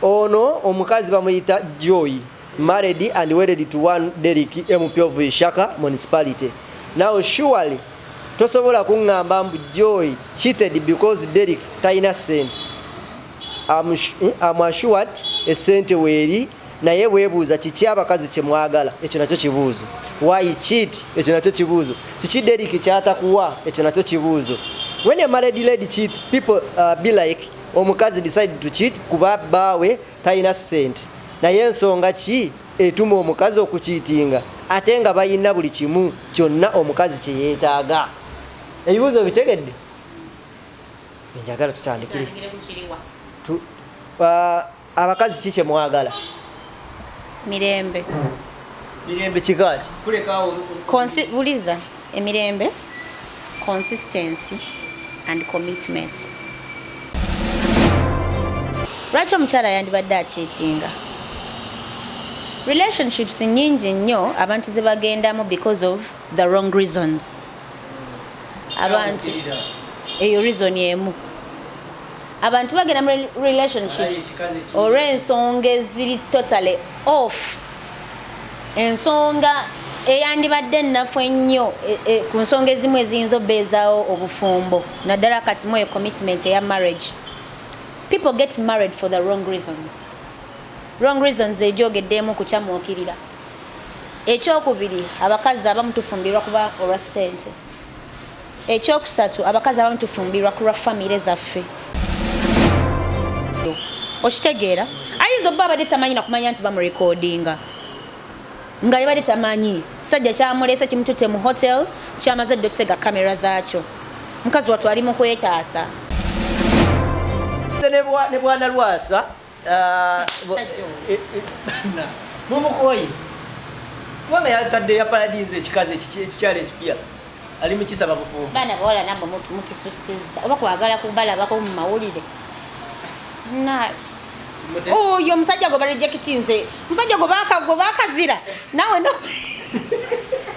Ono omukazi bamuyita Joy married and wedded to one Derrick MP of Ishaka municipality. Now surely tosobola kungamba mbu Joy cheated because Derrick taina sente. I'm, I'm assured esente weeri naye webuuza kiki abakazi kyemwagala ekyo nakyo kibuuzo why cheat ekyo nakyo kibuuzo kiki deriki kyatakuwa ekyo nakyo kibuuzo when a married lady cheat people uh, be like omukazi decide to cheat kuba baawe talina sente naye ensonga ki etuma omukazi okukiitinga ate nga balina buli kimu kyonna omukazi kyeyetaaga ebibuuzo bitegedde enjagala tutandikire uh, Abakazi ki kyemwagala? Mirembe. Mirembe kikaaki? Kulekaawo. Consi buliza emirembe consistency and commitment. Lwaki omukyala yandibadde akyetinga? Relationships nyingi nnyo abantu ze bagendamu because of the wrong reasons. Abantu eyo reason emu. abantu bagenda mu relationships olw'ensonga eziri totally off ensonga eyandibadde ennafu ennyo e, e, ku nsonga ezimu eziyinza obeezawo obufumbo naddala kati mu eyo commitment eya marriage people get married for the wrong reasons wrong reasons egyogeddeemu kukyamuukirira ekyokubiri abakazi abamu tufumbirwa kuba olwa ssente Ekyokusatu abakazi abamu tufumbirwa ku lwa famire zaffe. Okitegeera ayinza obba abadde tamanyi nakumanya nti bamurekodinga nga yebadde tamanyi sajja kyamuleese kimutute mu hotel kyamaze dde okutega kamera zaakyo mukazi wattu ali mu kwetaasa ne bwana lwasa Ah, eh, eh, mumukoye kubanga yatadde ya paradinze ekikazi ekikyalo ekipya ali mukisaba bufumbo baana bawala namwe mutususiza oba kwagala kubalabako mu mawulire oyo omusajja gwe barejekiti nze omusajja gwe bakazira nawe no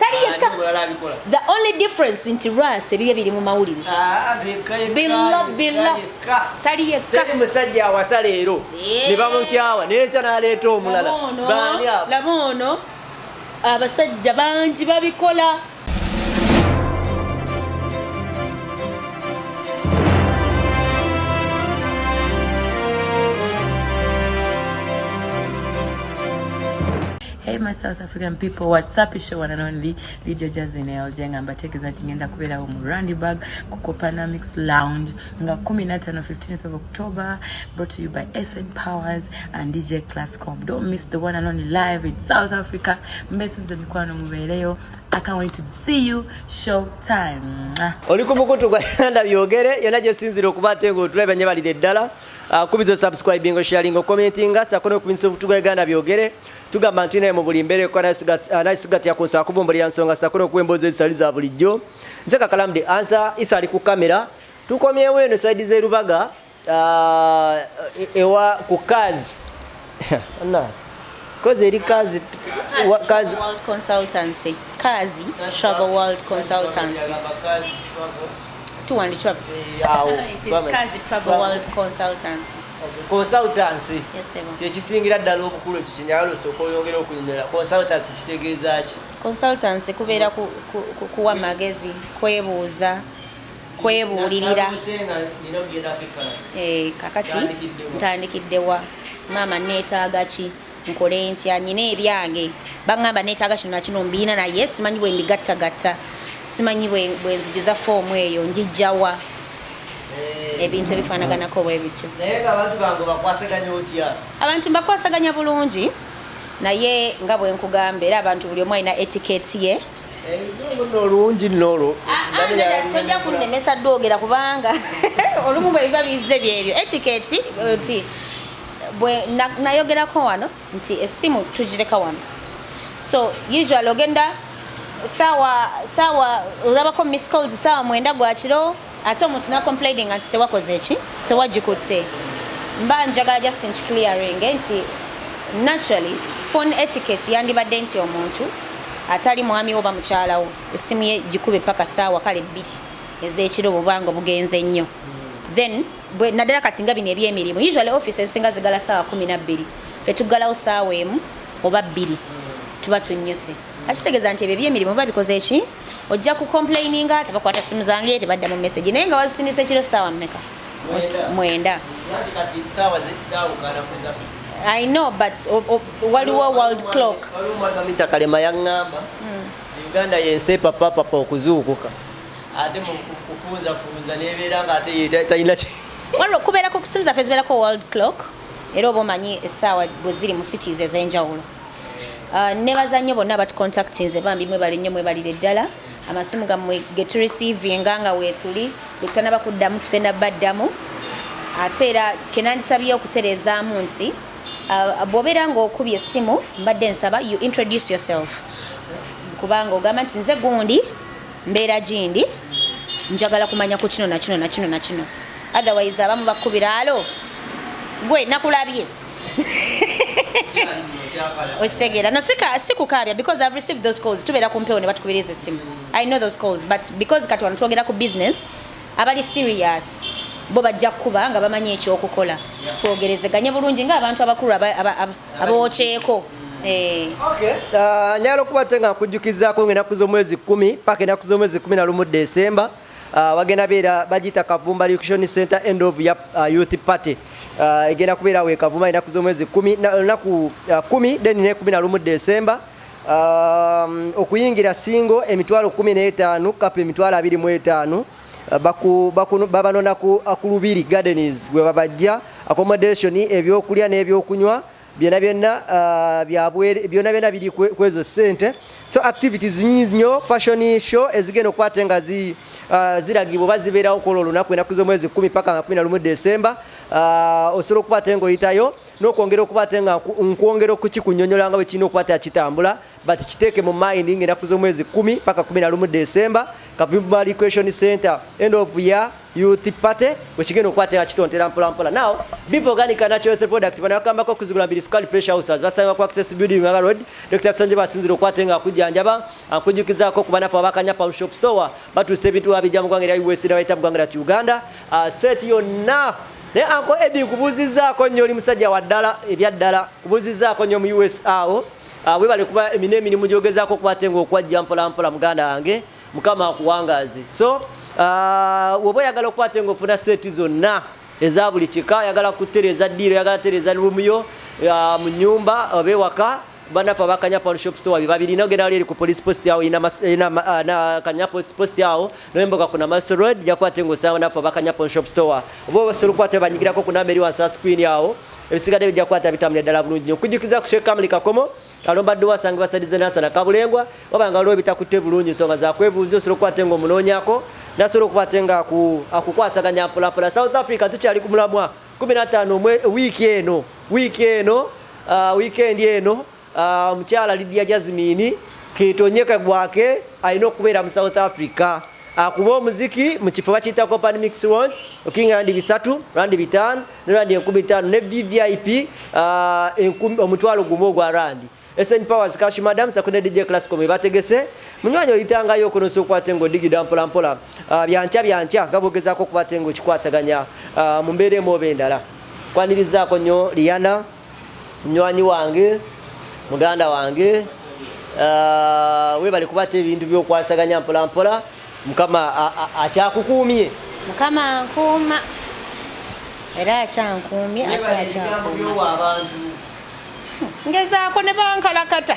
tali yekka the only difference nti ras ebibye biri mu mawulire ah, billa billa tali yekka musajja awasa leero ne bamukyawa nekya naleeta omulala laba ono abasajja bangi babikola Hey my South African people, what's up? It's your one and only DJ Jasmine Eljeng ambategeeza nti ngenda kubeerawo mu Randyburg ku Copanamics Lounge nga 15 15th of October brought to you by SN Powers and DJ Classcom. Don't miss the one and only live in South Africa. Mbesunze mikwano mubeereyo. I can't wait to see you show time. Oli ku mukutu gwa Yanda byogere yona gye sinzira okuba ate ng'otula ebanye balire ddala. Uh, kubizo subscribing, sharing, commenting, sako n'okubinyisa obutuga Uganda byogere. tugamba nti naye mu buli mbeera ekko anasigatya ku nsaba kuvumbulira nsonga sakula okuwa emboozi ezitali za bulijjo nze kakalamu de ansa isa ali ku kamera tukomyewo eno saidi zerubaga uh, e, ewa ku kazi kozi eri kazi tuwandikirawo Consultancy kyekisingira ddala obukulu ekyo kyenyagala osooka oyongera okunyonyola. Consultancy kitegeeza ki? Consultancy kubeera kuwa magezi, kwebuuza, kwebuulirira. Eh, kakati ntandikidde wa? Maama neetaaga ki? Nkole ntya? Nnina ebyange, baŋŋamba neetaaga kino na kino mbirina naye simanyi bwe mbigattagatta, simanyi bwe nzijuza foomu eyo ngiggya wa? Eh. Ebintu ebifaanaganako bwe bityo. Naye ng'abantu bange obakwasaganya otya? Abantu mbakwasaganya bulungi naye nga bwe nkugamba era abantu buli omu alina etiketi ye olungi nolo ah, ah, tojja kunnemesa dwogera kubanga olumu bwebiba bizze byebyo etiketi oti bwe nayogerako wano nti essimu tugireka wano so usual ogenda sawa sawa olabako miss calls sawa mwenda gwa kiro ate omuntu na complaining nti tewakoze eki tewagikutte mba njagala just nki clearing nti naturally phone etiquette yandibadde nti omuntu atali mwami wo bamukyalawo essimu ye gikube paka saawa kale bbiri ez'ekiro bubanga obugenze nnyo then bwe naddala kati nga bino ebyemirimu usually office ezisinga zigala saawa kumi nabbiri fe tuggalawo saawa emu oba bbiri tuba tunnyuse akitegeeza nti ebyo ebyemirimu biba bikoze ki ojja ku complaininga tebakwata simu zange tebadda mu message naye nga wazisinisa ekiro saawa mmeka mwenda i know but waliwo world clock waliwo mwagamitakale mayangamba hmm. uganda yensi epapapapa okuzuukuka ate mukufunza funza nebeera nga ate talina waliwo okubeerako okusinza fe zibeerako world clock era oba omanyi essaawa bwe ziri mu cities ez'enjawulo ah, nebaza nnyo bonna abatucontactinze bambi mwebale nnyo mwebalire ddala amasimu gamwe geturisiivinga nga weetuli bwetutanaba kuddamu tugenda baddamu ate era kenandisabye okutereezaamu nti ah, bwobeera ngaokubye essimu mbadde nsaba you introduce yourself kubanga ogamba nti nze gundi Mbeera gindi njagala kumanya ku kino na kino na kino na kino. Otherwise abamu bakubira alo gwe nakulabye. okitegeera no sika sikukaabya because i've received those calls tubeera ku mpewo ne batukubiriza essimu i know those calls but because kati wano twogera ku business abali serious bo bajja kukuba nga bamanyi ekyokukola twogerezeganye bulungi ngaabantu abakulu abookyeko eh. ah, nyala okuba ate nga nkujjukizako ngaenaku z'omwezi kumi paka enaku z'omwezi kumi na lumu desemba ah, wagenda beera bagiyita kavumba recution center end of ya ah, youth party egenda kubeera wekavuma enaku z'omwezi kumi lunaku kumi then nekumi na lumu desemba Um, okuyingira singo emitwalo 15 kapa emitwalo 25 babanona ku Lubiri Gardens bwe babajja accommodation ebyokulya n'ebyokunywa byona byona uh, byabwere byona byona biri kwezo sente so activities nyingi nyo fashion show ezigenda okukwata nga zi uh, ziragibwa oba zibeerawo kwolwo olunaku enaku z'omwezi kumi paka nga kumi na lumu desemba uh, osobola okukwata engoyitayo n'okwongera okukwata nga nkwongera okukikunyonyola nga bwe kirina okukwata kitambula But kiteeke mu mind nga enaku z'omwezi kumi paka kumi na lumu December Kavimba Recreation Center end of year youth party wekigenda okukwata nga kitontera mpola mpola now bipo organic and natural health product bano bakambako okuzigula mbiri sukali pressure houses basanga ku access building nga road Dr. Sanje basinzira okwata nga kujjanjaba ankujukizako ku banafu abakanya pound shop store batuuse ebintu wabijja mu gwanga lya USA bayita mu gwanga lya Uganda uh, set yonna naye anko edi nkubuuzizaako nnyo oli musajja waddala ebyaddala nkubuuzizaako nnyo mu usa awo Ah, webale kuba emina emirimu gyogezako okuba ate ngaokwajja mpolampola muganda wange mukama akuwangaaze so ah, woba oyagala okuba ate ngaofuna seeti zonna eza buli kika oyagala kutereeza diiro oyagala tereeza rumuyo ah, mu nyumba oba ewaka banafe abakanya panshop store bebabirina ogenda wali eri ku police post awo kanya police post awo noyemboka ku namaso road jakuba ate ngaosanga banafe abakanya panshop store oba osobola okuba te banyigirako ku namba eri wansi wa screen awo ebisigadde bijja kukwata bitambulira ddala bulungi nyo okujjukiza ku sheikh kamuli kakomo alomba dduwa asanga basadize nasana kabulengwa waba nga waliwo ebitakutte bulungi ensonga zakwebuuza osobola okukwate nga omunoonyako nasobola okukwate nga akukwasaganya mpulapula south africa tukyali ku mulamwa 15 wiiki eno wiiki eno ah, wiikendi eno Ah, omukyala Lydia Jazmine ketonye kagwake alina okubeera mu South Africa akuba ah, omuziki mu kifo bakiyita Copan Mix Round okinga randi bisatu randi bitaano ne randi enkumi ttaano ne VVIP ah, omutwalo gumu ogwa randi SN Powers Cash Madam sakune DJ Classical mwe bategese munywanyi oyitangayo okunosa okwate ngo digida mpola mpola byankya byankya gabogezako okukwate ngo kikwasaganya mu mbeera emu oba endala kwanirizaako nnyo Liana munywanyi wange muganda wange uh, webale kuba ate ebintu byokwasaganya mpolampola mukama akyakukuumye mukama nkuuma era akyankuumye akyakyakuuma abantu ngezaako ne bankalakata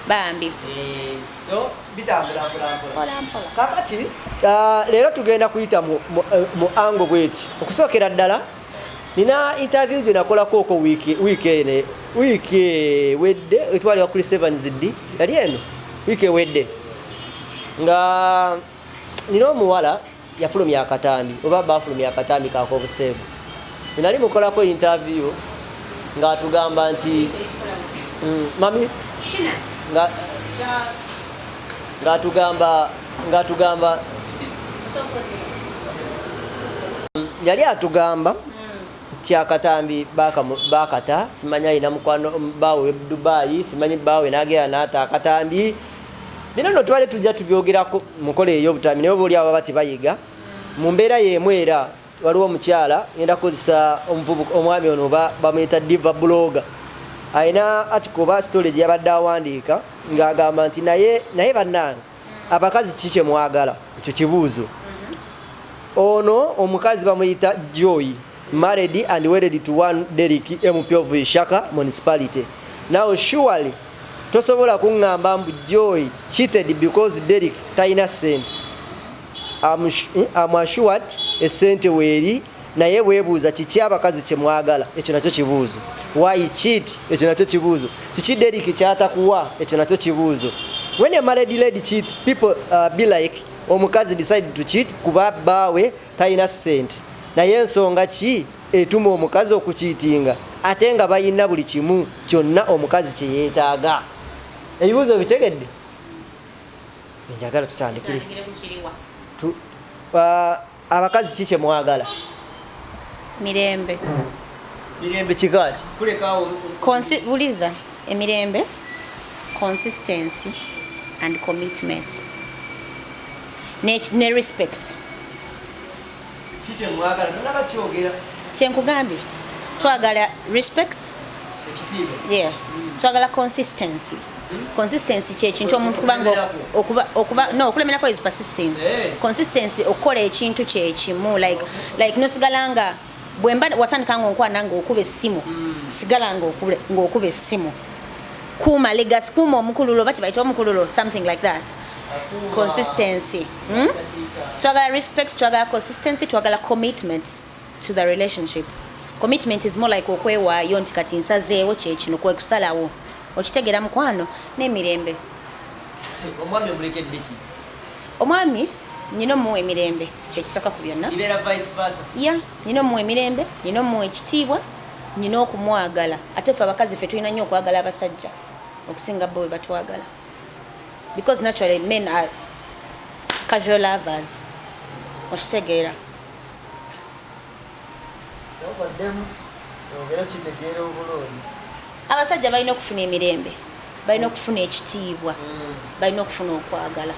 bambi eh, so bitambula mpola mpola kakati uh, leero tugenda kuyita mu, mu, eh, mu ango bweti okusookera ddala nina interview gye nakolako oko wiiki wiiki ene wiiki ewedde etwalibwa kuli sevens ddi yali eno wiiki ewedde nga nina omuwala yafulumya akatambi oba bafulumya akatambi kakobuseegu enali mukolako interview ngaatugamba nti mm, mami ngaatugamba ngaatugamba yali atugamba nti akatambi bakata simanya ayina mukwano baawe dubayi simanyi baawe nagera naata akatambi bino no tubale tujja tubyogerako mukola eyobutami naye oba oli abo baba tebayiga mu mbeera yeemu era waliwo omukyala ngenda kukozesa omuvubuka omwami ono oba bamuyita diva buloga alina atika oba sitole gye yabadde awandiika ng'agamba nti naye naye bannange abakazi ki kye mwagala ekyo kibuuzo ono omukazi bamuyita joy married and wedded to one derik mp of shaka municipality now surely Tosobola kungamba mbu joy cheated because Derrick talina sente am hmm, assured esente weeri naye webuuza kiki abakazi kyemwagala ekyo nakyo kibuuzo why cheat ekyo nakyo kibuuzo kiki Derrick kyatakuwa ekyo nakyo kibuuzo when a married lady cheat people uh, be like omukazi decide to cheat kuba baawe talina sente naye ensonga ki etuma omukazi okukiitinga ate nga balina buli kimu kyonna omukazi kye yeetaaga ebibuuzo obitegedde enjagala tutandikire abakazi ki kye mwagala mirembe mirembe kikaaki kulekaawo buliza emirembe consistency and commitment ne respect Kiki emwagala tunaba kyogera. Kyenkugambye twagala respect. Ekitiibwa. Yeah. Mm. Twagala consistency. Hmm? Consistency kye kintu omuntu kubanga okuba okuba no okulemerako is persisting. Hey. Eh. Consistency okukola ekintu kye kimu like like nosigala nga bwemba watandika nga onkwana nga okuba essimu mm. sigala nga okuba essimu kuuma legacy kuuma omukululo bakyi bayita omukululo something like that consistency hmm? twagala respect twagala consistency twagala commitment to the relationship commitment is more like okwewaayo nti kati nsazeewo kyekino kwekusalawo okitegeera mukwano n'emirembe omwami omulekeddeki omwami nyina omuwa emirembe kyekisoka ku byonna ya nyina omuwa emirembe nyina omuwa ekitiibwa nyina okumwagala ate fe abakazi fe tulina nnyo okwagala abasajja okusinga bo bwe batwagala because naturally men are casual lovers okitegeera abasajja balina okufuna emirembe balina okufuna ekitiibwa mm. balina okufuna okwagala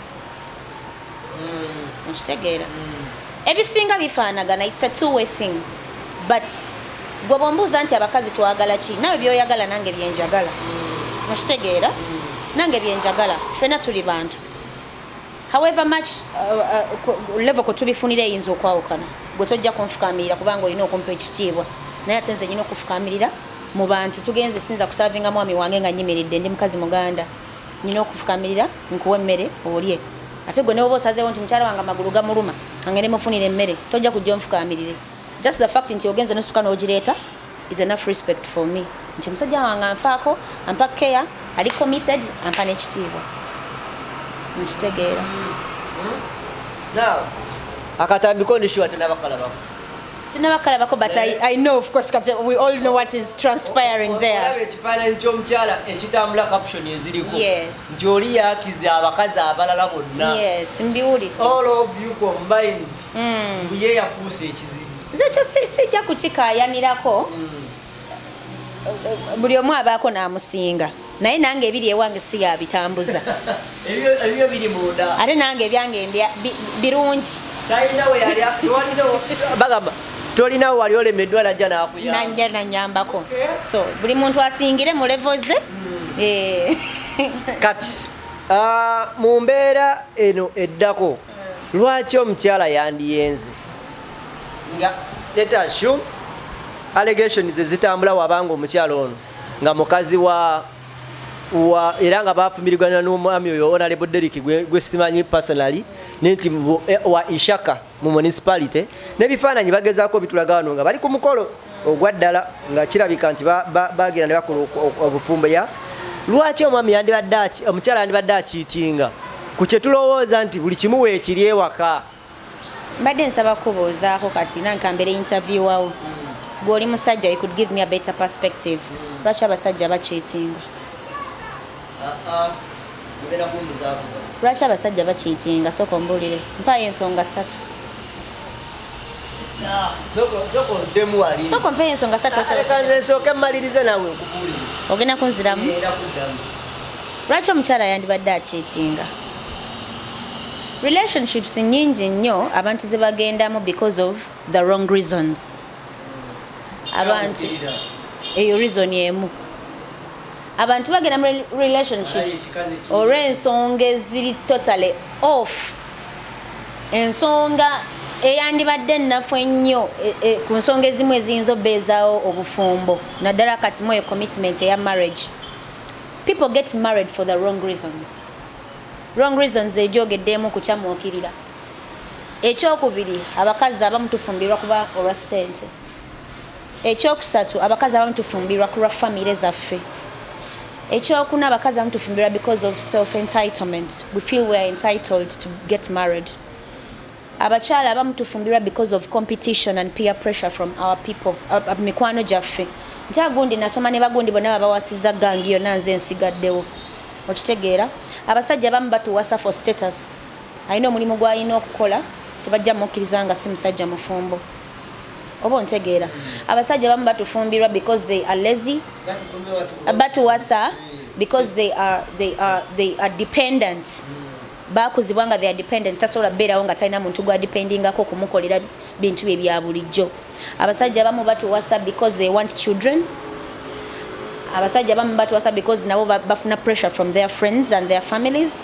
mm. okitegeera mm. ebisinga bifaanagana its a two way thing but gwe bwombuuza nti abakazi twagala ki nawe byoyagala nange byenjagala mm. okitegeera nange byenjagala fena tuli bantu however much uh, uh, level kwe tubifunira eyinza okwawukana gwe tojja kunfukamirira kubanga olina okumpa ekitiibwa naye ate nze nyina okufukamirira mu bantu tugenze sinza kusavinga mwami wange nga nyimiridde ndi mukazi muganda nina okufukamirira nkuwa emmere olye ate gwe newoba osazeewo nti mukyala wange amagulu gamuluma ange nemufunira emmere tojja kujja onfukamirire just the fact nti ogenze nosuka n'ogireeta is enough respect for me nti omusajja wange anfaako ampa care ali committed ampa n'ekitiibwa nkitegeera akatambiko ndishiwa tenabakalabako sinaba kalabako but I, I know of course kati we all know what is transpiring there olaba ekifaananyi ky'omukyala ekitambula caption eziriko yes. nti oli yakiza abakazi abalala bonna yes, mbiwuli all of you combined mm. ye yafuuse ekizibu nze kyo sijja kukikayanirako mm. buli omu abaako n'amusinga naye nange ebiri ewange si yabitambuza ate nange ebyange birungi bagamba tolinawo wali olemeddwa najja nakuyanja nanyambako so buli muntu asingire mu levo ze hmm. eh. kati ah, mu mbeera eno eddako lwaki omukyala yandiyenze nga let assume allegations ezitambula wabanga omukyala ono nga mukazi wa wa era nga bafumirigana n'omwami oyo onalebo derik gwe simanyi personally ne nti eh, wa ishaka mu municipality n'ebifaananyi bagezaako bitulaga wano nga bali ku mukolo ogwa ddala nga kirabika nti bagenda ne bakola obufumbo ya lwaki omwami yandibadde omukyala yandibadde akiitinga ku kye tulowooza nti buli kimu weekiri ewaka mbadde nsaba kubuuzaako kati nankambere intaviewawo gw'oli musajja you could give me a better perspective lwaki abasajja bakiitinga lwaki abasajja bakiitinga sooka ombuulire mpaayo ensonga ssatu sooka ompeeyo ensonga ssatunsooka mmalirize nawe nkubuulire ogenda kunziramu lwaki omukyala yandibadde akiitinga relationships nyingi nnyo abantu ze bagendamu because of the wrong reasons abantu eyo reason emu abantu bagenda mu relationships olw'ensonga eziri totally off ensonga eyandibadde ennafu ennyo e, e, ku nsonga ezimu eziyinza obeezawo obufumbo naddala kati mu eyo commitment eya marriage people get married for the wrong reasons wrong reasons egyogeddeemu kukyamuukirira ekyokubiri abakazi abamu tufumbirwa kuba olwa ssente Ekyokusatu abakazi abamu tufumbirwa kulwa family zaffe. Ekyokuna abakazi abamu tufumbirwa because of self entitlement we feel we are entitled to get married. Abakyala abamu tufumbirwa because of competition and peer pressure from our people mikwano gyaffe nti agundi nasoma ne bagundi bonna babawasiza gangi yonna nze nsigaddewo okitegeera abasajja abamu batuwasa for status alina omulimu gwalina okukola tebajja mukkiriza nga si musajja mufumbo oba ontegeera abasajja bamu batufumbirwa because they are lazy batuwasa because they are, they are, they are dependent bakuzibwa nga they are dependent tasobola beerawo nga talina muntu gwadependingako okumukolera bintu bye bya bulijjo abasajja bamu batuwasa because they want children abasajja bamu batuwasa because nabo bafuna pressure from their friends and their families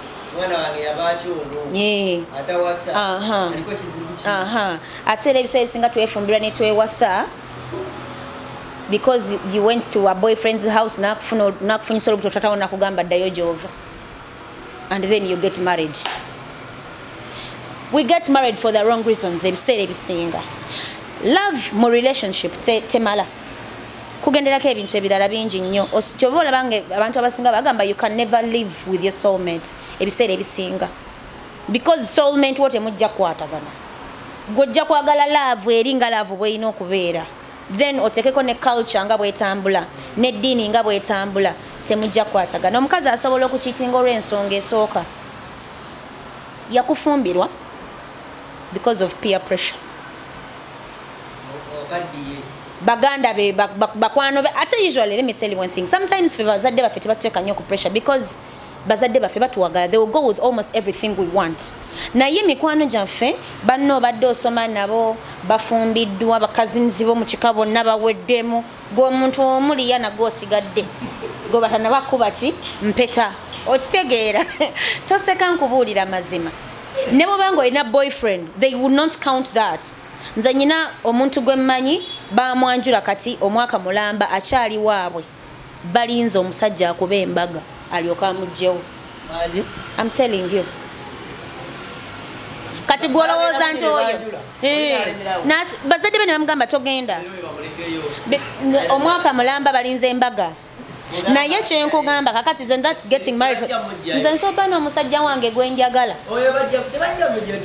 ate era ebiseera ebisinga twefumbirwa ne twewasa because you went to a boyfriend's house nakufuna nakufunyisa olubuto tatawo nakugamba ddayo gyova and then you get married we get married for the wrong reasons ebiseera ebisinga love mu relationship temala te kugenderako ebintu ebirala bingi nnyo kyova olaba nga abantu abasinga bagamba you can never live with your soulmate ebiseera ebisinga because soulmate wo temujja kukwatagana gwojja kwagala love eri nga love bweyina okubeera then otekeko ne culture nga bwetambula ne dini nga bwetambula temujja kwatagana omukazi asobola okukitinga olw'ensonga esooka yakufumbirwa because of peer pressure baganda be bakwano be ate usually let me tell you one thing sometimes fe bazadde baffe tebatuteka nnyo ku pressure because bazadde baffe batuwagala they will go with almost everything we want naye mikwano gyaffe banno obadde osoma nabo bafumbiddwa bakazinzi bo mu kika bonna baweddemu gweomuntu omuliya nago osigadde gwe batanabakuba ki mpeta okitegeera toseka nkubuulira mazima ne bwoba nga olina boyfriend they would not count that nze nyina omuntu gwe mmanyi bamwanjula kati omwaka mulamba akyali waabwe balinze omusajja akube embaga alyoke amujjewo am telling you kati gwolowooza nti oyo bazadde be ne bamugamba togenda omwaka mulamba balinze embaga naye kyenkugamba kakati zen that getting married nze nsoba n'omusajja wange gwenjagala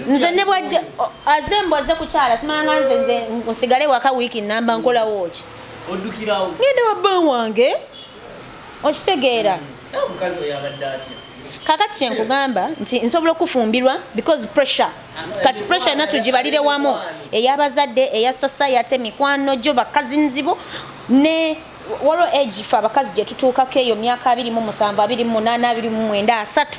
nze ne bwajja aze mbwaze kukyala simanga nze nze nsigale waka wiiki namba nkolawo ki oddukirawo ngenda wa bba wange okitegeera mm. ah, omukazi oyo abadde atya kakati kyenkugamba nti nsobola okufumbirwa because pressure kati pressure yona tugibalire wamu eyabazadde eya society mikwano gyo bakazi nzibo ne waliwo age fe abakazi gyetutuukako eyo myaka abiri mu musanvu abiri mu munaana abiri mu mwenda asatu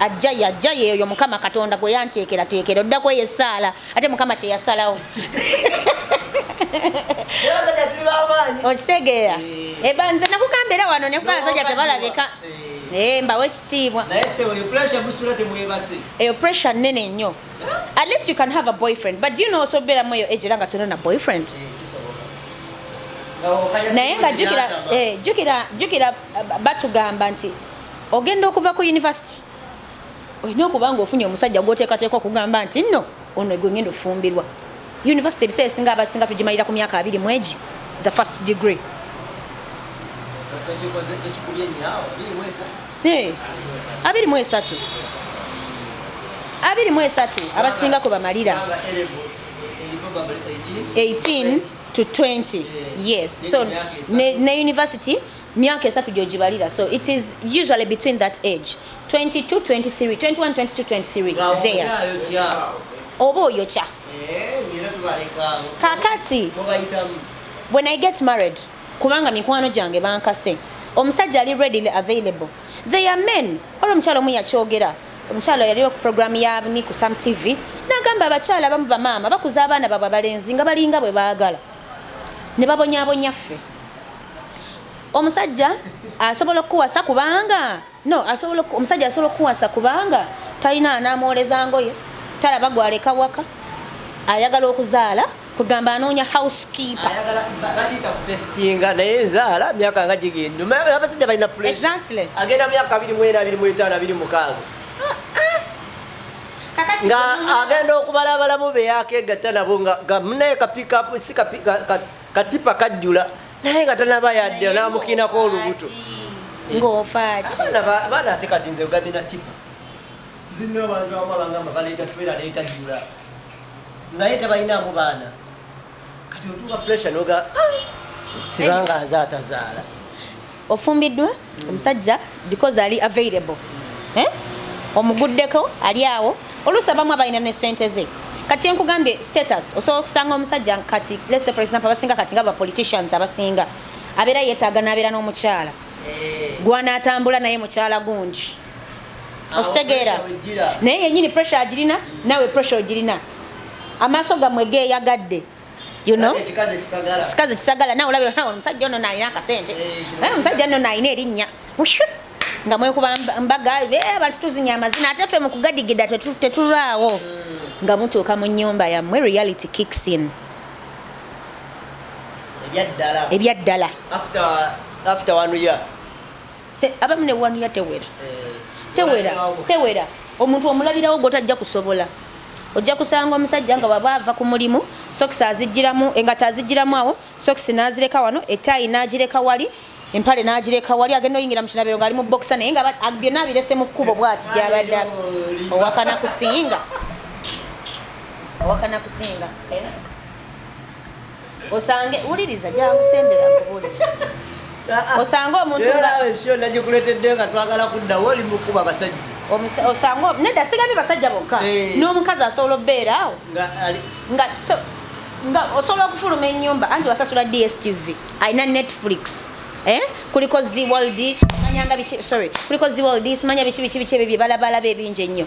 ajja yajja yeeyo mukama katonda gwe yanteekerateekera odda kweyo essaala ate mukama kye yasalawo okitegeera eh. eh, nze nakugamba era wano nekuga abasajja tebalabika eh. eh, mbawo ekitiibwa eyo pressure nene nnyo at least you can have a boyfriend but do you know osobeeramu eyo ejera nga tolina boyfriend naye nga jukira batugamba nti ogenda okuva ku university olina okuba nga ofunye omusajja gwoteekateeka okugamba nti nno ono gwe ngenda okufumbirwa university ebiseera esinga abasinga tugimalira ku myaka abiri mwegi the first degree abiri mu esatu abiri mu esatu abasinga kwe bamalira 18 to 20 yes so ne, ne university myaka esatu gyogibalira so it is usually between that age 22 23 21 22 23 there oba oyokya eh, kakati when i get married kubanga mikwano gyange bankase omusajja ali readily available they are men olwo omukyalo omu yakyogera omukyalo yaliwo ku programu ya ni ku sam tv nagamba abakyala abamu bamaama bakuza abaana babwe abalenzi nga balinga bwe baagala ne babonyabonya ffe omusajja asobola okukuwasa kubanga no asobola omusajja asobola okukuwasa kubanga talina anamwoleza ngoye talaba gwaleka waka ayagala okuzaala kugamba anoonya housekeeper naye nzaala myaka nga gigendaabasajja balina agenda myaka 2 nga agenda okubala abalamu beyakegatta nabo nga munaye kapikapu si katipa kajjula naye nga tanaba yadde namukinako olubuto ngofaaki baana ate kati nze ogambye na tipa nzinna abantu abamu abangamba baleeta twera leeta jula naye tebalinamu baana kati otuuka pressure noga ah, sibanga nze atazaala ofumbiddwa omusajja because ali available eh? omuguddeko ali awo oluusi abamu abalina ne sente ze kati enkugambye status osobola okusanga omusajja kati let's say for example abasinga kati nga bapoliticians abasinga abeera yeetaaga n'abeera n'omukyala eh. gwanaatambula naye mukyala gungi okitegeera naye yenyini pressure agirina nawe pressure ogirina amaaso gamwe geeyagadde you know kikazi kisagala kikazi kisagala na olabe ha omusajja ono nalina akasente eh, eh omusajja ono nalina erinnya nga mwekuba mbaga be eh, abantu tuzinya amazina ate ffe mu kugadigida tetulaawo hmm. nga mutuuka mu nyumba yammwe reality kicks in ebyaddala ebyaddala after after one year abamu ne wanu ya tewera tewera tewera omuntu omulabirawo gwotajja kusobola ojja kusanga omusajja nga waba ava ku mulimu sokisi azijjiramu engato azijjiramu awo sokisi n'azireka wano etaayi n'agireka wali empale n'agireka wali agenda oyingira mu kinabiro ng'ali mu bokisa naye nga byonna abirese mu kkubo bwati gyabadde owakana kusinga owakana kusinga osange wuliriza jangu sembera nkubuli ah, ah. osange omuntu nagikuletedde nga twagala kuddawo oli mukuba abasajja osange nedda sigabye basajja bokka eh. n'omukazi asobola obeera awo nga nga osobola okufuluma enyumba anti wasasula dstv alina netflix eh kuliko zi world manyanga bichi sorry kuliko zi world simanya bichi bichi bichi bye balabala be binje nnyo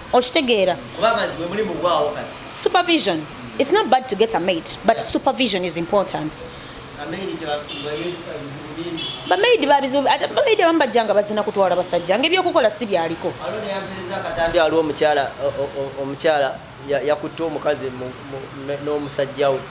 okitegeera supervision it's not bad to get a maid but yeah. supervision is important bamaidi babizibu ate bamaidi abamu bajja nga bazina kutwala basajja ngaebyokukola si byaliko akatambi waliwo omukyala omukyala yakutte omukazi n'omusajja we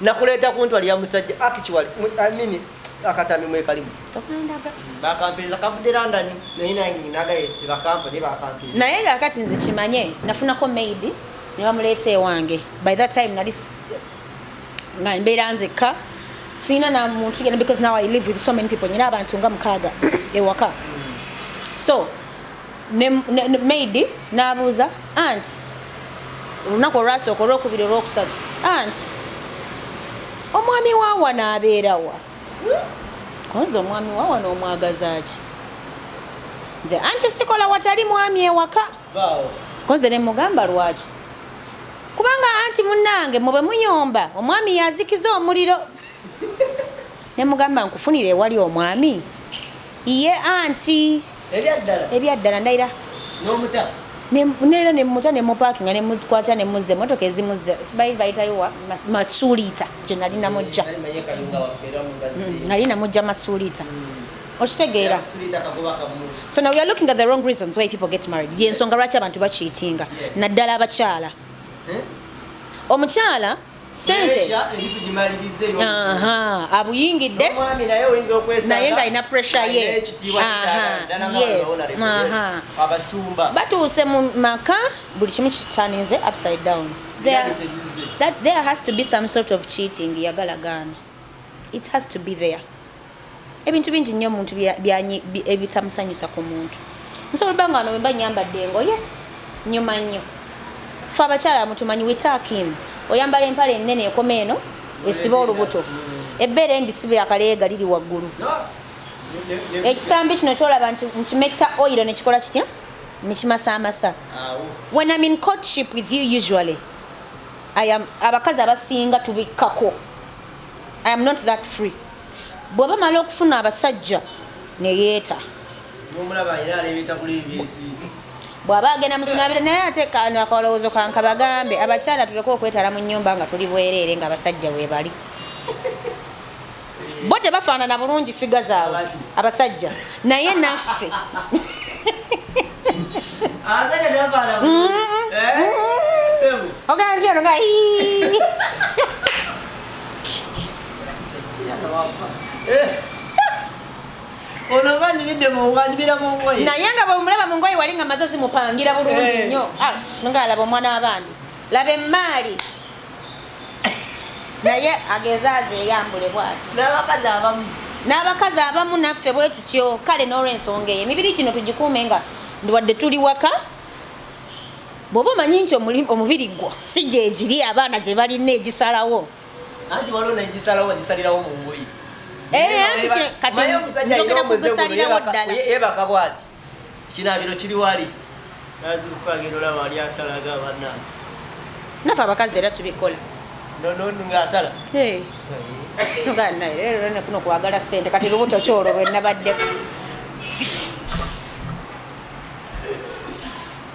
nakuleeta kuntwali ya musajja actually i mean akatambi mwekalimu bakampeereza kavudde london naye nange nagaye tebakampa naye bakampeereza naye nga kati nze kimanye nafunako maid ne bamuleeta ewange by that time nali nga mbeera nzekka sirina na muntu yena because now i live with so many people nyina abantu nga mukaaga ewaka so ne, ne, ne maid n'abuuza anti olunaku olwasooka olwokubiri olwokusatu anti omwami wawa n'abeerawa konza omwami wawa n'omwagazaaki nze anti sikola watali mwami ewaka konze ne mugamba lwaki kubanga anti munnange mwe bwe muyomba omwami yazikiza omuliro Nemugamba nkufunire ewali omwami iye anti ebyaddala ndaira neera nemuta nemupakinga nemukwata nemuzza emotoka ezimuzza bali bayitayowa masuuliita gye nali namujja mm, nali namujja masuuliita mm. okitegeera so now weare looking at the wrong reasons why people get married yensonga lwaki abantu bakiitinga naddala abakyala eh? omukyala sente abuyingidde naye ng'alina pressure ye batuuse mu maka buli kimu kitaninze upside down there, that there has to be some sort of cheating yagala gaana It has to be there. Ebintu bingi nnyo omuntu ebitamusanyusa ku muntu. Nsobola banga wano wemba nyambadde engoye nyuma nnyo. Ffe abakyala mutumanyi we tuck in. Oyambala empale ennene ekoma eno esiba olubuto. Ebbeere embi sibe akaleega liri waggulu. Ekisambi kino kyolaba nti nkimetta oil ne kikola kitya? Ne kimasaamasa. When I'm in courtship with you usually I am abakazi abasinga tubikkako I am not that free bwaba mala okufuna abasajja neyeeta bwaba agenda mukinabiro naye ate kano akalowoozo kankabagambe abakyala tuleke okwetala mu nyumba nga tuli bwereere nga abasajja webali bo tebafaanana bulungi figa zaabwe abasajja naye naffe ogaatyonga naye nga bwemulaba mu ngoye wali nga maze zimupangira bulungi eh. nnyo ah, ngalaba omwana w'abandi laba emmaali naye agenze azeyambule bwati n'abakazi abamu n'abakazi abamu naffe bwe tutyo kale n'olwensonga eyo emibiri gino tugikuume nga wadde tuli waka bw'oba omanyi nti omubiri gwo si gyegiri abaana gye balina egisalawo anti waliwo negisalawo bagisalirawo mu ngoyi eh, kati njogera kugusalirawo ddala yebaka bwati Ekinaabiro kiri wali. Nazibuka agenda olaba wali asalaga banange. Nafe abakazi era tubikola. Nono ngasala. Hey. Tugana naye era ne kuno kwagala sente kati lubuto kyolo lwe nabadde.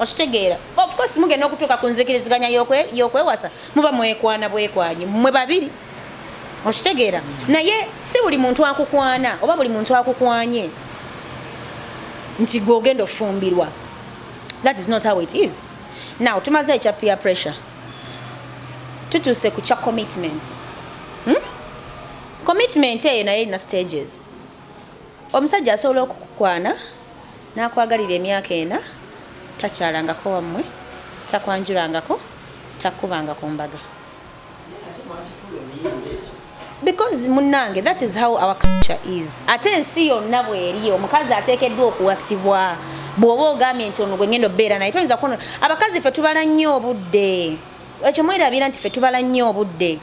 okitegeera of course mugenda okutuuka ku nzikiriziganya y'okwewasa muba mwekwana bwekwanyi mwe babiri okitegeera naye si buli muntu akukwana oba buli muntu akukwanye nti gwe ogenda ofumbirwa that is not how it is now tumaze ekya peer pressure tutuuse ku kya commitment hmm? commitment eyo naye erina stages Omusajja asobola okukukwana n'akwagalira emyaka ena, takyalangako wammwe, takwanjulangako, takukubanga ku mbaga. because munange that is how our culture is ate ensi yonna bweri omukazi ateekeddwa okuwasibwa bw'oba ogambye nti ono gwengenda obeera naye toyinza kuno abakazi fe tubala nnyo obudde ekyo mwerabira nti fe tubala nnyo obudde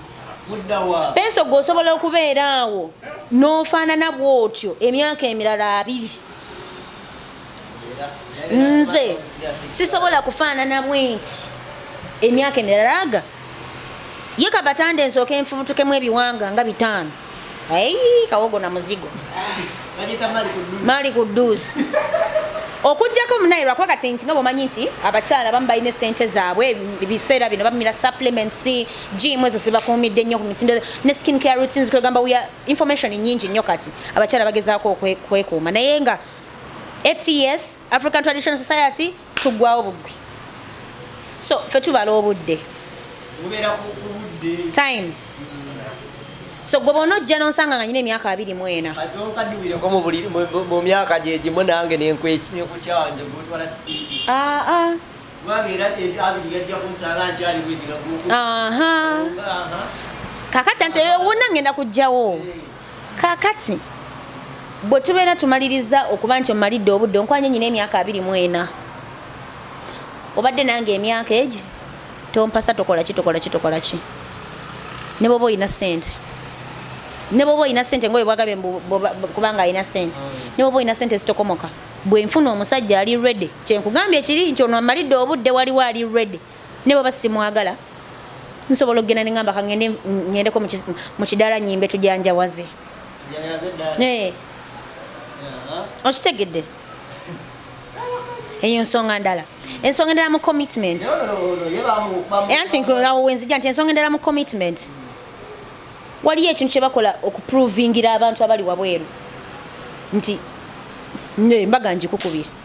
Penso gwe osobola okubeera awo n'ofaanana bw'otyo emyaka emirala abiri nze sisobola kufaanana bwenti emyaka emirala aga ye kabatande nsooka enfubutukemu ebiwanga nga bitaano Ayi kawogo na muzigo. Bajita mali kudusi. Mali kudusi. Okujjako munayi lwa kwa kati nti nga bomanyi nti abakyala bamu balina sente zaabwe ebiseera bino bamira supplements gym ezo sibakuumidde nnyo ku mitindo ne skin care routines kwegamba we are information nyingi nnyo kati abakyala bagezaako okwekuuma naye nga ATS African Traditional Society tuggwawo buggwi so fe tubala obudde time so gwe bona ojja nonsanga nga nyina emyaka abiri mu ena mu myaka gyegimu nange nenkukyanze gutwala sipiidi ah, ah. kakati nti ewona ngenda kujjawo eh. kakati bwe tubeera tumaliriza okuba nti omalidde obudde onkwanye nyina emyaka abiri mu ena obadde nange emyaka egi tompasa tokola ki tokola ki tokola ki ne bwoba olina sente ne bwoba olina sente ngaoyo bwagabe kubanga alina sente mm. ne bwoba olina sente zitokomoka bwenfuna omusajja ali redy kyenkugambye kiri nti ono amalidde obudde waliwo ali redy ne bwaba simwagala nsobola okugenda ne ngamba kangende ngendeko mu kidaala nyimbe tujanjawaze okitegedde eyo nsonga ndala ensonga endala mu commitment era nti awo wenzija nti ensonga endala mu commitment waliyo ekintu kyebakola okuprovingira abantu abali wabweru nti mbaga njikukubye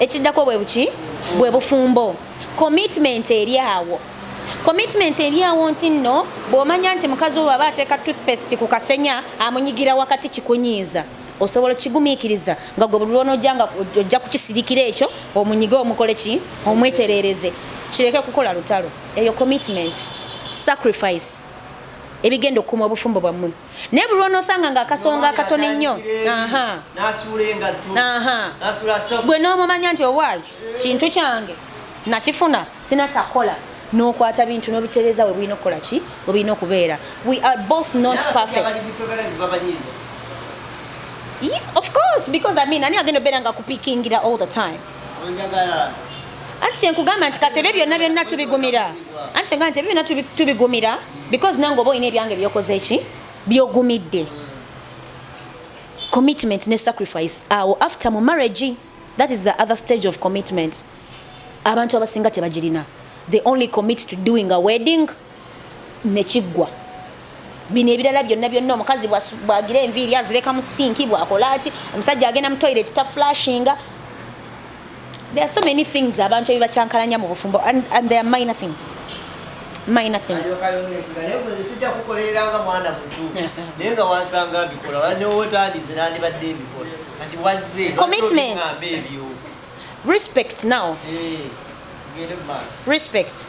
ekiddako bwe buki bwe bufumbo commitment eri awo commitment eri awo nti nno bw'omanya nti mukazi wo bwaba ateeka toothpaste ku kasenya amunyigira wakati kikunyiiza osobola okigumiikiriza nga gwe buli lwonojja nga ojja kukisirikira ekyo omunyige omukole ki omwetereereze kireke kukola lutalo eyo commitment sacrifice ebigenda okukuma obufumbo bwammwe naye buli lwonosanga nga akasonga akatono ennyo gwe n'omumanya nti owaayi kintu kyange nakifuna sina kyakukola n'okwata bintu n'obitereeza we bulina okukola ki we bulina okubeera we are both not perfect Yeah, of course because I mean ani agenda obeera nga kupikingira all the time anti kyenkugamba nti kati ebyo byonna byonna tubigumira anti kyenkugamba nti ebyo byonna tubigumira because nange oba olina ebyange byokoze ki byogumidde commitment ne sacrifice awo after mu marriage that is the other stage of commitment abantu abasinga tebagirina they only commit to doing a wedding ne kiggwa. Bino ebirala byonna byonna omukazi bw'agira enviiri azireka mu sinki, bw'akola ki, omusajja agenda mu toilet ta flashinga. There are so many things abantu ebibakyankalanya mu bufumbo and, and there are minor things. Minor things. Sijja kukolerera nga mwana mutu naye nga wansanga mbikola newotandize nandibadde mbikola kati wazze commitment respect now. Hey. Eh. respect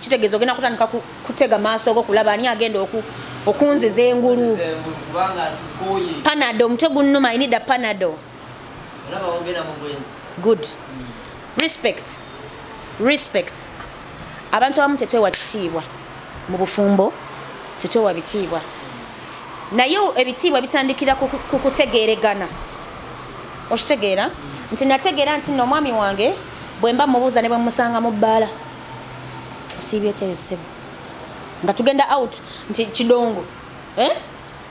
kitegeeza ogenda kutandika kutega maaso go kulaba ani agenda okunziza engulu panado omutwe gunnuma inida panado good respect respect abantu abamu tetwewa kitiibwa mu bufumbo tetwewa bitiibwa naye ebitiibwa bitandikira ku kutegeeregana okitegeera nti nategeera nti no omwami wange bwemba mubuuza ne bwemusanga mu bbaala Usiibye otya eyo ssebo? Nga tugenda out nti kidongo. Eh?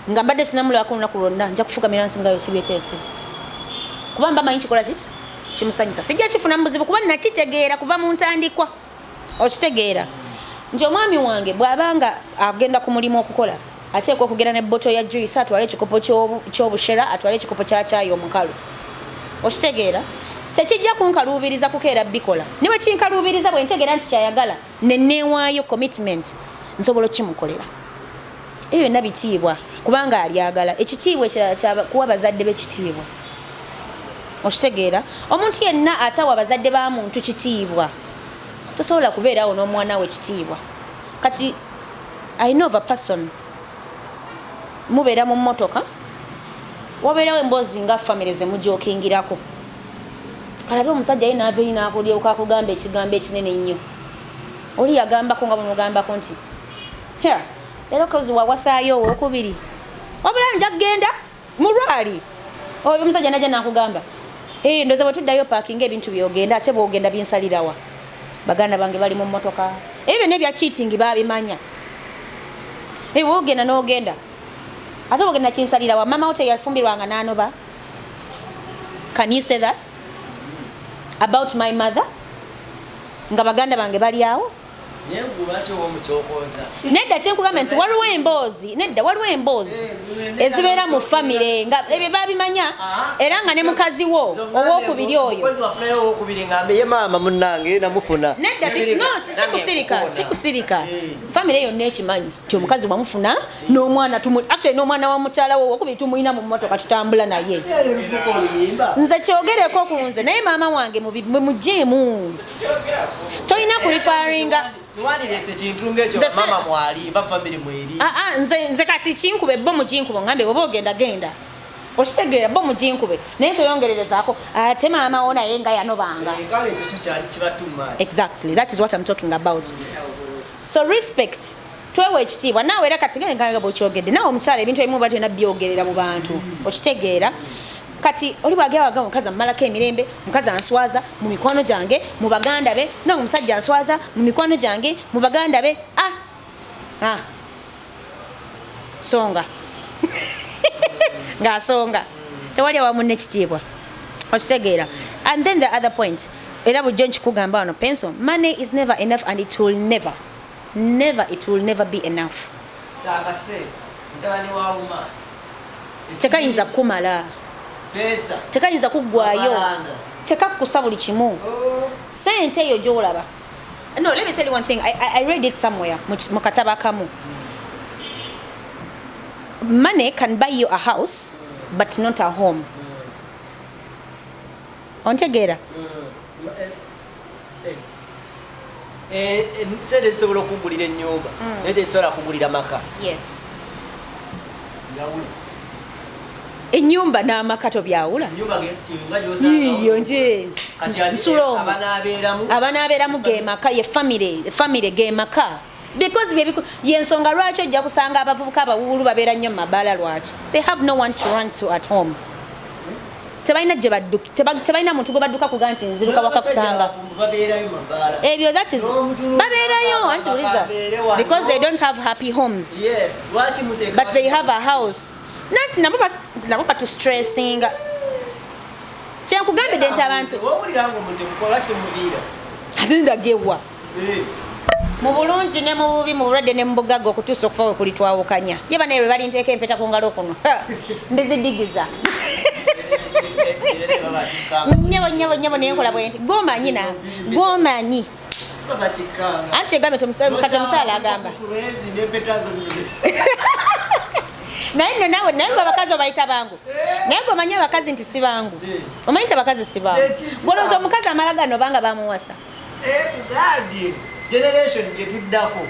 Nga mbadde sinamulabako olunaku lwonna nja kufukamira nsi nga Usiibye otya eyo ssebo? Kuba mba manyi kikola ki? Kimusanyusa. Sijja kifuna mu buzibu kuba nakitegeera kuva mu ntandikwa. Okitegeera? Nti omwami wange bw'aba nga agenda ku mulimu okukola, Ateekwa okugenda ne bottle ya juice, atwale ekikopo ky'obushera, atwale ekikopo kya caayi omukalu. Okitegeera? Tekijja kunkaluubiriza kukeera bikola. Ne bwe kinkaluubiriza bwe ntegeera nti ky'ayagala ne nneewaayo, commitment, nsobola okukimukolera. Ebyo byonna bitiibwa kubanga abyagala. Ekitiibwa ekirala kya kuwa bazadde be kitiibwa. Okitegeera? Omuntu yenna atawa bazadde ba muntu kitiibwa tosobola kubeerawo n'omwana we kitiibwa. kati i know of a person mubeera mu mmotoka wabeerawo emboozi nga famire zemujokingirako kalabe omusajja ye naava eri nakulyeuka akugamba ekigambo ekinene ennyo oli yagambako nga bwemugambako nti era kozi wawasaayo owokubiri wabula nja kugenda Mulwali oyo omusajja najja nakugamba ee eh, ndoza bwe tuddayo paakinga ebintu byogenda ate bwogenda binsalirawa baganda bange bali mu mmotoka ebyo byonna ebya cheating babimanya ebyo bwogenda n'ogenda ate bwogenda kinsalirawa mama wo teyafumbirwanga n'anoba can you say that about my mother nga baganda bange bali awo nedda kyenkugambye nti waliwo emboozi nedda waliwo emboozi eh, ezibeera mu famire nga ebyo babimanya era nga ne mukazi wo owokubiri oyo nedda sikusirika sikusirika eh. famire yonna ekimanyi ti omukazi wamufuna n'omwana actually n'omwana wa mukyala wo owokubiri tumulina mu mmotoka tutambula naye nze kyogereko ku nze naye maama wange mujeemu tolina kulifaringa ah, ah, nze kati kinkube bo muginkubo ngambe oba ogenda genda okitegeera bo muginkube naye toyongererezaako ate maama wo naye nga yanobanga eh, exactly that is what im talking about so respect twewa ekitiibwa naawe era kati nga bwokyogedde naawe omukyala ebintu ebimu oba tolina byogerera mu bantu okitegeera kati oli bwagera waga omukazi amumalako emirembe omukazi answaza mu mikwano gyange mu baganda be nange omusajja answaza mu mikwano gyange mu baganda be ah, ah. songa ng'asonga tewali awamu nekitiibwa okitegeera and then the other point era bujjo nkikugamba wano penso money is never enough and it will never never it will never be enough tekayinza kukumala tekayinza kuggwayo tekakukusa buli kimu oh. sente eyo gyolaba no let me tell you one thing i, I, I read it somewhere mu kataba kamu money can buy you a house but not a home ontegeera mm. Eh, eh, sente zisobola okugulira enyumba hmm. naye tezisobola kugulira maka enyumba n'amaka tobyawula iyo nje nsulo abanaabeeramu ge maka ye famire ge maka because bye biku yensonga lwaki ojja kusanga abavubuka abawuulu babeera nnyo mu mabaala lwaki they have no one to run to at home tebalina gye badduka tebalina muntu gwe badduka kuga nti nziruka waka kusanga ebyo that is babeerayo anti uliza because they don't have happy homes yes. but they have a house nanti nabo nabo batu stressinga kyenkugambidde nti abantu ate ndagewa mu bulungi ne mu bubi mu bulwadde ne mu bugagga okutuusa okufa we kulitwawukanya ye banaye lwe balinteeka empeta ku ngalo kuno ndizidigiza nyabo nyabo nyabo naye nkola bwenti gwomanyi na gwomanyi anti kyegambe kati omukyala agamba naye nno nawe naye gwe abakazi obayita bangu naye gwe omanyi abakazi nti si bangu omanyi nti abakazi si bangu gwolowooza omukazi amala gano obanga bamuwasa Ebugambye generation gyetuddako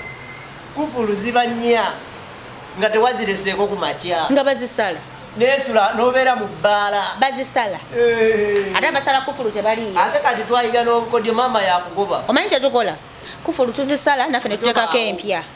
kufulu ziba nnya nga tewazireseeko ku makya nga bazisala nesula nobeera mu bbaala bazisala eh. ate abasala kufulu tebaliyo ate kati twayiga n'obukodyo maama yakugoba omanyi kyetukola kufulu tuzisala naffe netutekako empya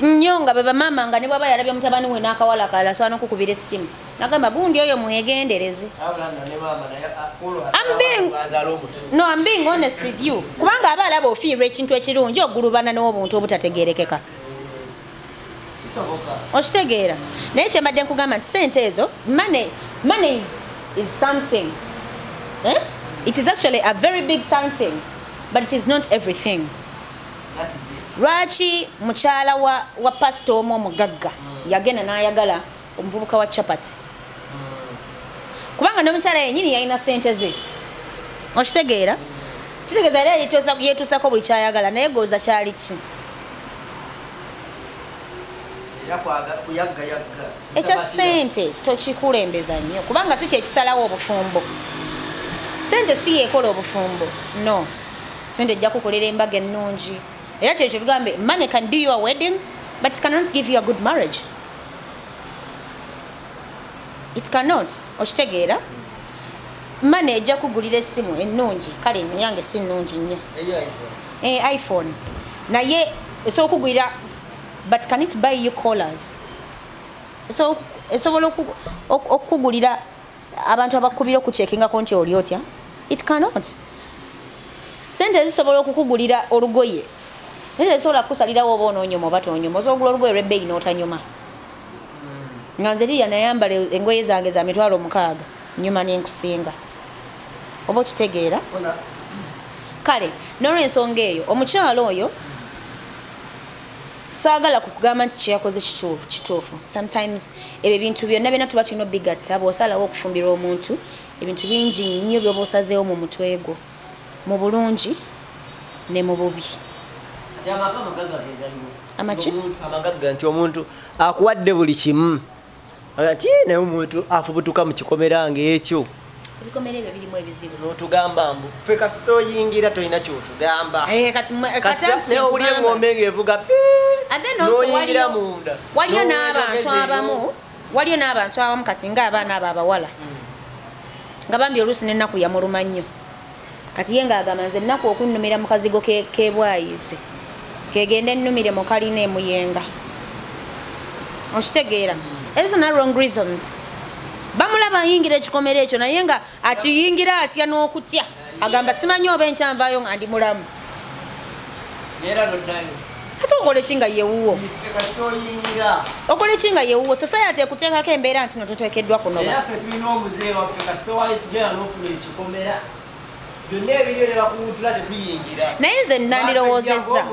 nnyo nga bebamaama nga nebwaba yalabye mutabani we n'akawala kalala asobola nokukubira essimu nagamba gundi oyo mwegendereze no am being honest with you kubanga aba alaba ofiirwa ekintu ekirungi ogulubana n'obuntu obutategerekeka okitegeera naye kyembadde nkugamba nti sente ezo money money is, is something eh? it is actually a very big something but it is not everything lwaki mukyala wa, wa pasita omu omugagga mm. yagenda n'ayagala omuvubuka wa chapati mm. kubanga n'omukyala yenyini yalina sente ze okitegeera mm. kitegeeza era yetuusako buli kyayagala naye gooza kyali ki ekya sente tokikulembeza nnyo kubanga si kyekisalawo obufumbo sente si yekola obufumbo no sente ejja kukolera embaga ennungi era kyeyo kyetugambe money can do your wedding but it cannot give you a good marriage it cannot okitegeera mane ejja kugulira essimu ennungi kale neyange si nnungi nnyo eh, iphone naye esobola okugulira but can it buy you collars esobola okukugulira abantu abakubira okukyekingako nti oli otya it cannot sente ezisobola okukugulira olugoye naye tezisobola kukusalirawo oba ononyoma oba tonyoma osobola ogula olugoye lwebbeeyi n'otanyoma nga nze liya nayambala engoye zange za mitwalo mukaaga nyuma nenkusinga oba okitegeera kale nolwensonga eyo omukyalo oyo saagala kukugamba nti kyeyakoze kituufu kituufu sometimes ebyo ebintu byonna byonna tuba tulina obigatta bw'osalawo okufumbirwa omuntu ebintu bingi nnyo byoba osazeewo mu mutwe gwo mu bulungi ne mu bubi amaki amagagga nti omuntu akuwadde buli kimu ati naye omuntu afubutuka mu kikomera ng'ekyo ebikomera ebyo birimu ebizibu notugamba mbu fe kasita oyingira tolina kyotugamba eh, katiowulira engombe ngaevuga noyingira munda waliyo n'abantu abamu waliyo n'abantu abamu kati ng'abaana abo abawala hmm. nga bambi oluusi n'ennaku yamuluma nnyo kati ye ng'agamba nze nnaku okunnumira mu kazigo k'ebwayiise kegende nnumire mu kalina emuyenga okitegeera ezo na wrong reasons bamulaba ayingira ekikomero ekyo naye nga akiyingira atya n'okutya agamba simanyi oba enkyanvaayo nga ndi mulamu Nera dodayo. Ate okole kinga yewuwo. Okole kinga yewuwo. Society ekuteka ke mbera ntino tutekedwa kuno. Era fe tulina omuze wa fe ka so wise gya no fulu ekikomera. Byonna ebiriyo ne bakuwuutula tetuyingira. Naye nze nnandirowoozezza.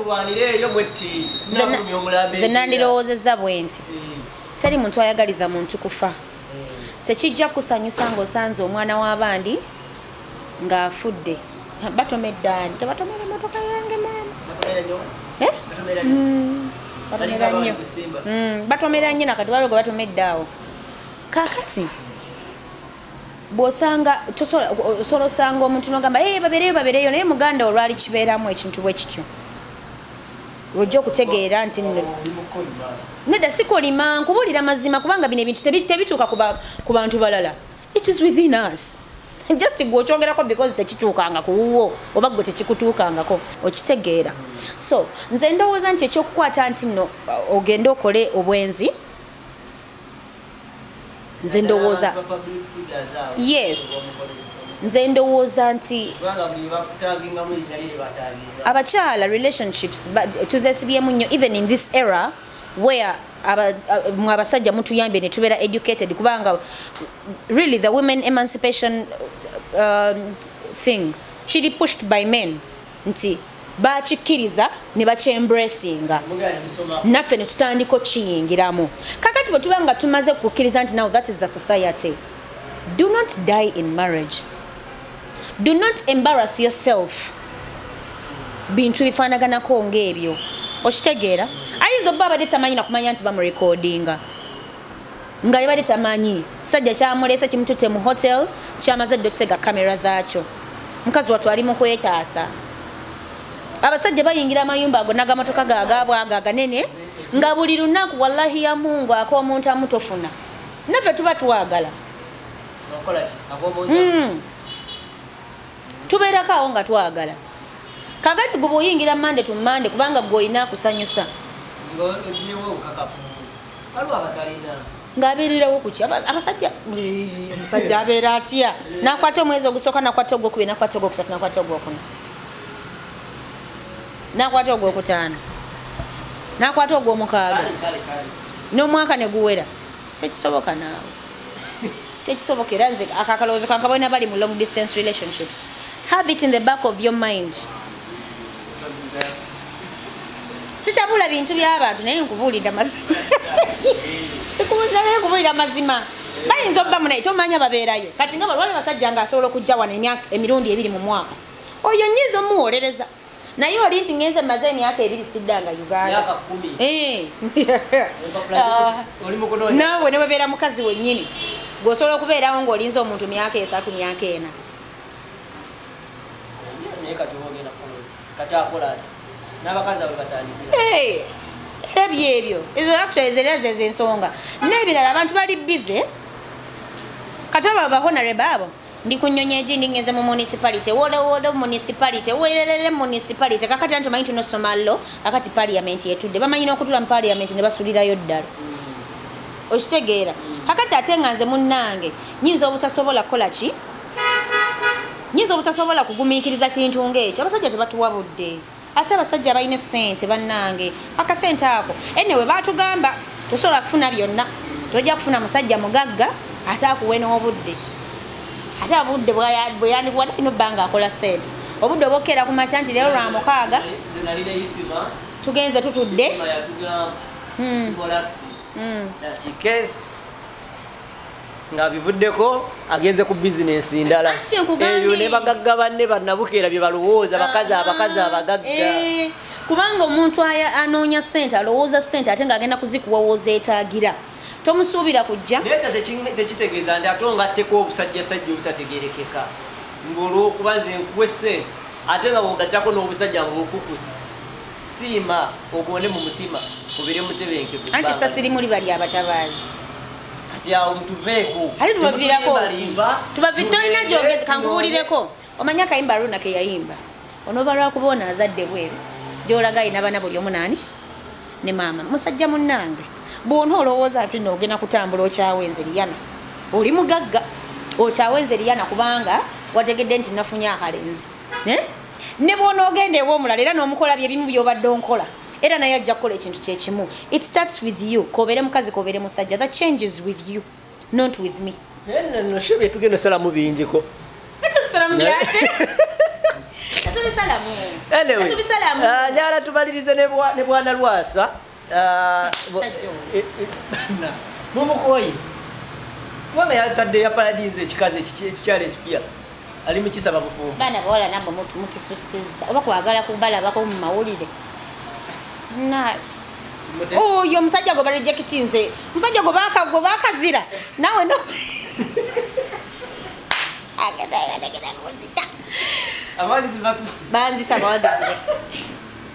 Nze nnandirowoozezza bwe nti eh. teri muntu ayagaliza muntu kufa. Eh. Tekijja kukusanyusa ng'osanze omwana w'abandi. nga afudde batoma eddaani tebatomera emotoka yange maama eh? mm. batomera nnyo mm. batomera nnyo nakati waliwo gwe batoma eddaawo kakati bwosanga osobola osanga omuntu nogamba e babereyo babereyo naye muganda olwali kibeeramu ekintu bwe kityo lwojja okutegeera nti nedda sikolima nkubulira mazima kubanga bino ebintu tebituuka ku bantu balala it is within us just gwe okyogerako because tekituukanga ku wuwo oba gwe tekikutuukangako okitegeera so nze ndowooza nti ekyokukwata nti no ogende okole obwenzi nze ndowooza yes nze ndowooza nti abakyala relationships tuzesibyemu nnyo even in this era mm. where aba, uh, mwe abasajja mutuyambye ne tubeera educated kubanga really the women emancipation uh, thing kiri pushed by men nti bakikkiriza ne bakyembracinga naffe ne tutandika okukiyingiramu kakati bwe tuba nga tumaze kukkiriza nti now that is the society do not die in marriage do not embarrass yourself bintu bifaanaganako ng'ebyo okitegeera ayinza obba abadde tamanyi nakumanya nti bamurekodinga nga yabadde tamanyi sajja kyamuleese kimutute mu hotel kyamaze dde okutega kamera zaakyo mukazi watu ali mu kwetaasa abasajja bayingira amayumba ago nagamotoka gagabwaga aganene nga buli lunaku wallahi ya mungu ak'omuntu amutofuna naffe tuba twagala hmm. tubeerako awo nga twagala kakati gwe bwoyingira mande tu mande kubanga gwe olina akusanyusa ng'abeererawo kuki abasajja omusajja abeera atya nakwata omwezi ogusooka nakwata ogwokubiri nakwata ogwokusatu nakwata ogwokuna nakwata ogwokutaano nakwata ogwomukaaga n'omwaka ne guwera tekisoboka naawe tekisoboka era nze akakalowoozo kankabona bali mu long distance relationships have it in the back of your mind sitabula bintu byabantu naye nkubuulira mazima sikubuuliranaye nkubuulira mazima bayinza obba munaye tomanya babeerayo kati nga balwali basajja nga asobola okujja wano emirundi ebiri mu mwaka oyo nyinza omuwolereza naye oli nti ngenze maze emyaka ebiri siddanga uganda eh. ah. naawe ne webeera mukazi wennyini gweosobola okubeerawo ng'olinze omuntu myaka esatu myaka ena eh. era byebyo ezo actually zera zezo ensonga n'ebirala abantu bali bize kati abo abahonareba abo ndi ku nnyonyi egindi ngenze mu municipality woolowoodo municipality weererere municipality kakati anti omanyi tunosoma lo kakati parliament yetudde bamanyi n'okutula mu parliament ne basulirayo ddala okitegeera kakati ate nga nze munnange nyinza obutasobola kukola ki nyinza obutasobola kugumiikiriza kintu ng'ekyo abasajja tebatuwa budde Ate abasajja abalina essente bannange akasente ako anyway baatugamba tosobola kufuna byonna tojja kufuna musajja mugagga ate akuwe n'obudde ate obudde bwe yandikuwa talina obba nga akola ssente obudde obokkeera ku makya nti leero lwa mukaaga tugenze tutudde hmm. Hmm. nga bivuddeko agenze ku bizinensi ndala eyo ne bagagga banne banabukeera bye balowooza bakazi abakazi abagagga eh, kubanga omuntu anoonya sente alowooza sente ate ng'agenda kuzikuwowooza etaagira tomusuubira kujja naye tekitegeeza nti ate ongatteko obusajjasajja obutategerekeka ng'olwokuba nze nkuwe sente ate nga bwogattako n'obusajja ng'okukusa Siima, ogonde mu mutima, obeere mutebenkevu. Anti essasi limu liba lya batabaazi. Kati awo mutuveeko. Ate tubaviirako ki? Tubavi tolina gyogedde kankubuulireko. Omanyi akayimba Aruna ke yayimba? Onooba lwakuba ono azadde bweru gy'olaga alina bana buli omu naani ne maama musajja munnange bwona olowooza nti no ogenda kutambula okyawa enzeriyana oli mugagga okyawa enzeriyana kubanga wategedde nti nafunye akalenzi eh? ne bwonoogenda ew'omulala era n'omukola bye bimu by'obadde onkola era naye ajja kukola ekintu kye kimu it starts with you kobeere mukazi kobeere musajja the changes with you not with me noshe byetugenda osalamu bingiko anyway, uh, nyala tumalirize ne bwana lwasa Ah, eh, eh, mumukoye kubanga yatadde ya paradinze ekikazi ekikyalo ekipya ali mukisaba bufumbo baana bawala namwe mutususiza oba kwagala kubalabako mu mawulire oyo omusajja gwe barejekiti nze omusajja gwe bakagwe bakazira nawe no banzisa bawagizi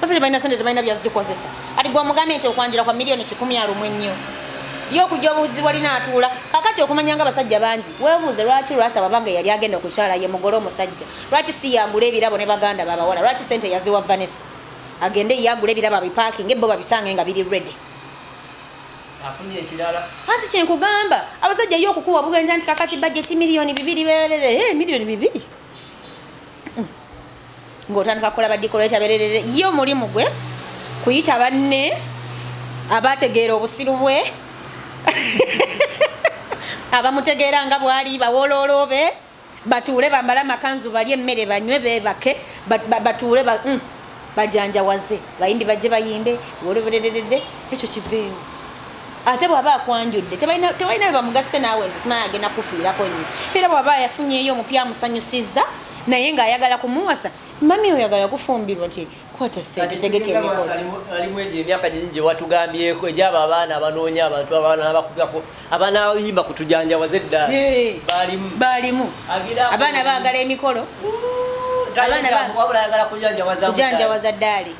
Basa tebalina sente tebalina byazikozesa ati gwe omugambye nti okwanjula kwa miliyoni kikumi alumu ennyo ye okujja obuzi walina atuula kakati okumanya nga abasajja bangi webuuze lwaki lwasaba bange yali agenda okukyala ye mugole omusajja lwaki si yagula ebirabo ne baganda babawala lwaki sente yaziwa vanessa agende ye agula ebirabo abipakinga ebbo babisange nga biri redi anti kyenkugamba abasajja ye okukuwa bugenja nti kakati bajeti miliyoni bibiri berere eh, miliyoni bibiri ng'otandika kukola badikoleeta bererere ye omulimu gwe kuyita banne abategeera obusiru bwe abamutegeera nga bwali bawolooloobe batuule bambale amakanzu balye emmere banywe beebake batuule mm, bajanjawaze bayimbi bajje bayimbe woloberererede ekyo kiveewo ate bwaba akwanjudde tebalina bebamugase naawe nti simanya agenda kufiirako nyo era bwaba yafunyeyo omupya amusanyusiza naye nga ayagala kumuwasa mami oyagala kufumbirwa ti kwata sente tegeke alimu egyo emyaka nyingi gye watugambyeko egyabo abaana abanoonya abantu abaana abakugako abaana abayimba kutujanjawaza edda balimu balimu abaana bagala emikolo abaana bagala kujanjawaza daali